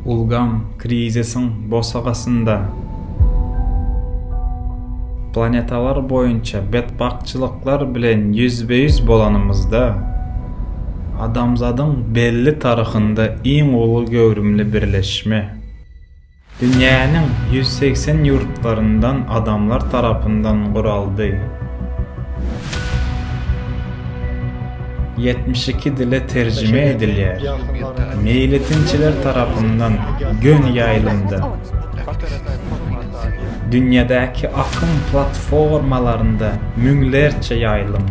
Ulgam krizisiň bosagasynda planetalar boýunça betbagtçylyklar bilen ýüzbe-ýüz bolanymyzda, adamzadyň belli taryhynda iň uly göwrümli birleşme. Dünýäniň ýüz segsen ýurtlaryndan adamlar tarapyndan guraldy. Ýetmiş iki dile terjime edilýär. Meýletinçiler tarapyndan göni ýaýlymda, dünýädäki akym platformalarynda müňlerçe ýaýlym.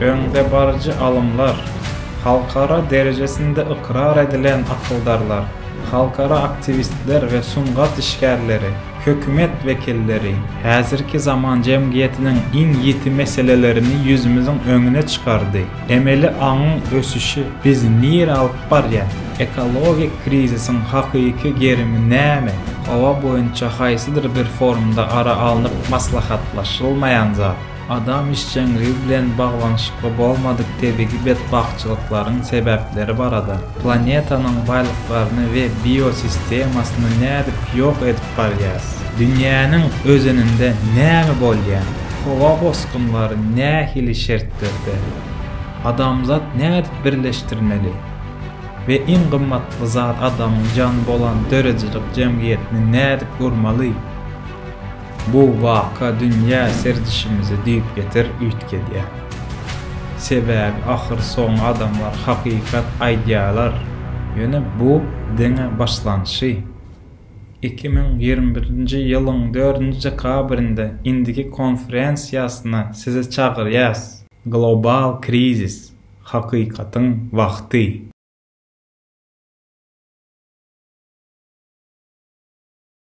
Öňdebaryjy alymlar, halkara derejesinde ykrar edilen akyldarlar, halkara aktiwistler we sungat işgärleri, hökümet wekilleri häzirki zaman jemgyýetiniň iň ýiti meselelerini ýüzümiziň öňüne çykardy, emeli aňyň ösüşi bizi nirä alyp barýar, ekologik krizisiň hakyky gerimi näme, howa boýunça haýsydyr bir forumda ara alnyp maslahatlaşylmaýan zat. Adam işjeňligi bilen baglanyşykly bolmadyk tebigy betbagtçylyklaryň sebäpleri barada, planetanyň baýlyklaryny we biosistemasyny nädip ýok edip barýas, dünýäniň özeninde näme bolýar, howa bosgunlary nähili şertlerde, adamzat nädip birleşdirmeli we iň gymmatly zat adamyň jany bolan döredijilik jemgyýetini nädip gurmaly? Bu waka dünýä serdişimizi düýpgöter üýtgedýär. Sebäbi ahyrsoňy adamlar hakykat aýdýarlar, ýöne bu diňe başlanşy. Iki müň ýigrimi birinji ýylyň dördünji dekabrynda indiki konferensiýasyna sizi çagyrýas. Global krizis, hakykatyň wagty.